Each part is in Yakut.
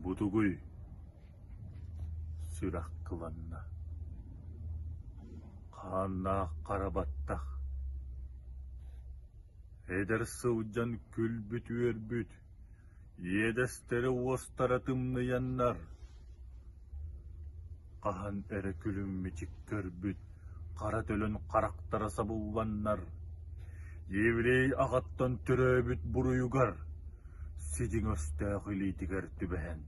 Бу тугуй? Сүрэх кыланна. Хааннаах хара баттах. Эдэр сылдьан күлбүт-үөрбүт, иэдэстэри уостара тымныйаннар. хаһан эрэ күлүммүчүк көрбүт хара төлөн харахтара сабылланнар, еврей аҕаттан төрөөбүт буруйугар, сидиҥ өстөөх илиитигэр түбэһэн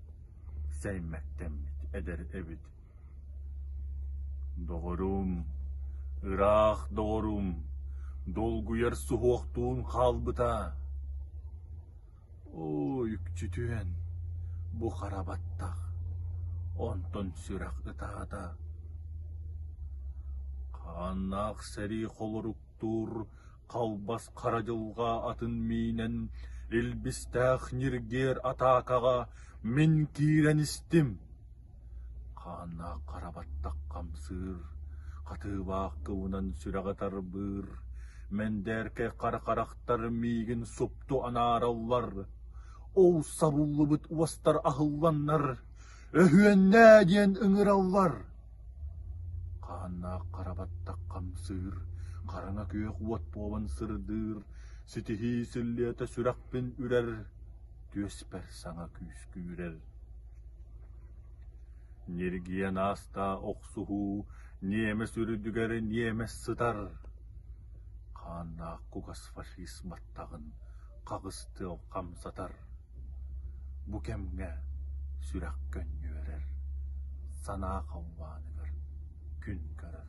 сэймэктэммит эдэр эбит. Доҕорум, ыраах доҕорум, долгуйар суһуохтуун хаалбыта. Оо, үкчү түһэн, бу хара баттах, онтон сүрэх ытаата. Хааннаах сэрии холоруктуур халбас хара дьылҕа атын миинэн илбистээх ньиргиэр атаакаҕа мин киирэн истим Хааннаах хара баттах хамсыыр, хатыыбаах кыбынан сүрэҕи тарбыыр, мэндээркэй хара харахтар миигин супту анаараллар, ол сабыллыбыт уостар аһылланнар, «Өһүөннээ!» диэн ыҥыраллар. Хааннаах хара баттах хамсыыр, хараҥа күөх уот буолан сырдыыр, ситиһии силлиэтэ сүрэхпин үрэр, түөспэр саҥа күүскүүрэр. Ньиргийэн аастаа охсуһуу ньиэмэс үрдүгэр ньиэмэс сытар хааннаах кугас фашист баттаҕын хаҕыс тыал хамсатар бу кэмҥэ сүрэх көнньүөрэр санаа халлааныгар күн көрөр